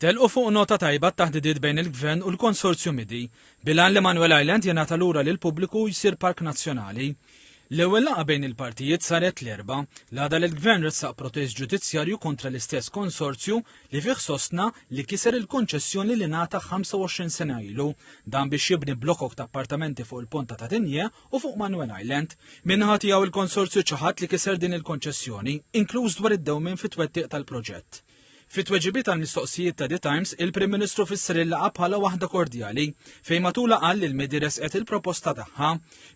Telqu fuq nota tajba t-taħdidiet bejn il-Gvern u l-Konsorzju Midi, bil-għan li Manuel Island jingħata lura lill-pubbliku u jsir Park Nazzjonali. L-ewwel laqgħa bejn il-partijiet saret l-Erbgħa, l-għada li l-Gvern ressaq protest ġudizzjarju kontra l-istess konsorzju li fih sostna li kiser il-konċessjoni li ngħata 25 sena ilu, dan biex jibni blokok ta' appartamenti fuq il-Ponta ta' Tigne u fuq Manoel Island. Min-naħa tiegħu l-konsorzju ċaħad li kiser din il-konċessjoni, inkluż dwar id-dewmien fit-twettiq tal-proġett. Fi tweġibiet għal mistoqsijiet ta' The Times, il-Prim Ministru fisser il-laqgħa bħala waħda kordjali, fejn matulha qal li l-medi resqet il-proposta tagħha.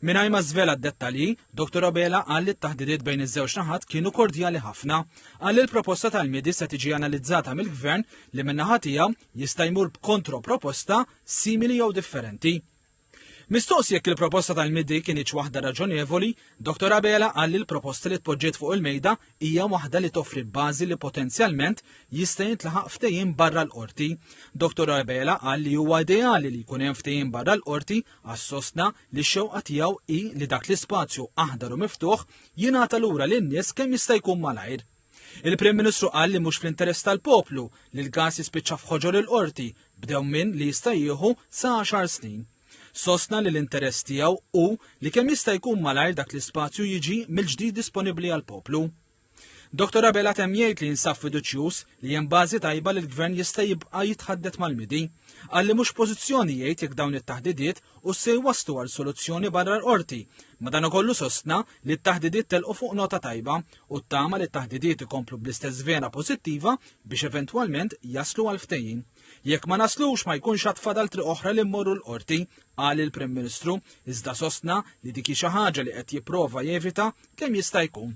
Mingħajr ma żvela d-dettalji, Dr Abela qal li t-taħdidiet bejn iż-żewġ naħat kienu kordjali ħafna. Qal li l-proposta tal-medi se tiġi analizzata mill-Gvern li min-naħa tiegħu jista' jmur b'kontroproposta simili jew differenti. Mistoqs jekk il-proposta tal-MIDI kinitx waħda raġonevoli, Dottor Abela qal li l-proposta li tpoġġiet fuq il-mejda hija waħda li toffri bażi li potenzjalment jista' jintlaħaq ftehim barra l-Qorti. Dottor Abela qal li huwa ideali li jkun hemm ftehim barra l-Qorti għax sostna li x-xewqa tiegħu hi li dak l-ispazju aħdar u miftuħ jingħata lura lin-nies kemm jista' jkun malajr. Il-Prim Ministru qal li mhux fl-interess tal-poplu li l-gas jispiċċa f'ħoġor il-Qorti b'dew minn li jista' jieħu sa 10 snin. Sostna li l-interess tiegħu hu li kemm jista' jkun malajr dak l-ispazju jiġi mill-ġdid disponibbli għall-poplu. Dr. Abela temm jgħid li jinsab fiduċjuż li hemm bażi tajba li l-Gvern jista' jibqa' jitħaddet mal-midi. Qal li mhux pożizzjoni jgħid jekk dawn it-taħdidiet u se jwasslu għal soluzzjoni barra l-qorti. Madankollu sostna li t-taħdidiet telqu fuq nota tajba u ttama li t-taħdidiet ikomplu bl-istess vena pożittiva biex eventwalment jaslu għal ftehim. Jekk ma naslux ma jkunx għad fadal triq oħra li mmorru l-qorti, qal il-Prim Ministru, iżda sostna li dik hi xi ħaġa li qed jipprova jevita kemm jista' jkun.